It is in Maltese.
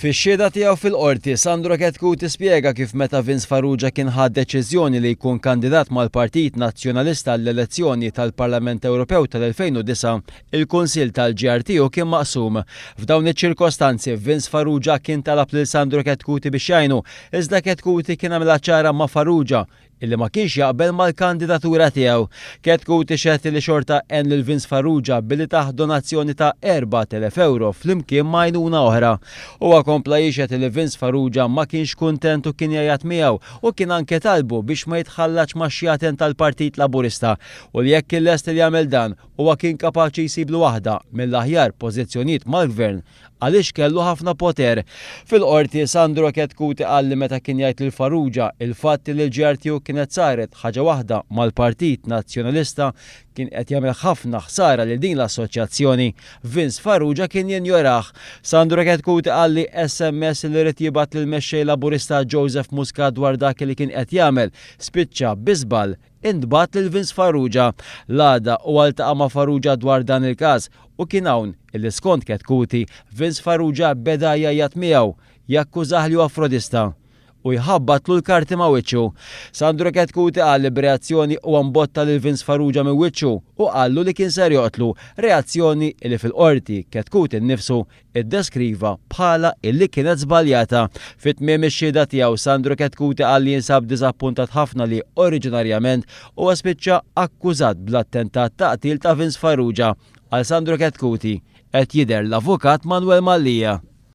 Fix-xhieda tiegħu fil-Qorti, Sandro Chetcuti spjega kif meta Vince Farrugia kien ħa d-deċiżjoni li jkun kandidat mal-Partit Nazzjonalista għall-elezzjoni tal-Parlament Ewropew tal-2009, il-Kunsill tal-GR tiegħu kien maqsum. F'dawn iċ-ċirkostanzi, Vince Farrugia kien talab lil Sandro Chetcuti biex jgħinu, iżda Chetcuti kien għamilha ċara ma' Farrugia, illi ma kienx jaqbel mal-kandidatura tiegħu. Ketku tixhed li xorta għen lil Vince Farrugia billi tah donazzjoni ta' 4,000 ewro flimkien ma' għajnuna oħra. Huwa kompla jixhed li Vince Farrugia ma kienx kuntent u kien jgħajjat miegħu u kien anke talbu biex ma jitħallatx max-xjaten tal-Partit Laburista u li jekk kien lest li jagħmel dan, huwa kien kapaċi jsiblu waħda mill-aħjar pożizzjonijiet mal-Gvern għaliex kellu ħafna poter. Fil-Qorti, Sandro Chetcuti qal li meta kien jgħid lil Farrugia il-fatt li l-ġar tiegħu kienet saret ħaġa waħda mal-Partit Nazzjonalista kien qed jagħmel ħafna ħsara lil din l-assoċjazzjoni, Vince Farrugia kien jinjorah. Sandro Chetcuti qal li sms li ried jibgħat lill-Mexxej Laburista Joseph Muscat dwar dak li kien qed jagħmel spiċċa bi żball Intbagħat lil Vince Farrugia l-għada u ltaqa' ma' Farrugia dwar dan il-każ u kien hawn illi skont Chetcuti, Vince Farrugia beda jgħajjat miegħu, jakkużah li huwa frodista u jħabbatlu l-karti ma' wiċċu. Sandro Chetcuti qal li b'reazzjoni huwa mbotta lil Vince Farrugia minn wiċċu u qallu li kien ser joqtlu, reazzjoni illi fil-Qorti Chetcuti nnifsu iddeskriva bħala li kienet żbaljata. Fi tmiem ix-xhieda tiegħu, Sandro Chetcuti qal li jinsab diżappuntat ħafna li, oriġinarjament, huwa spiċċa akkużat bl-attentat ta' qtil ta' Vince Farrugia. Għal Sandro Chetcuti, qed jidher l-Avukat Manwel Mallia.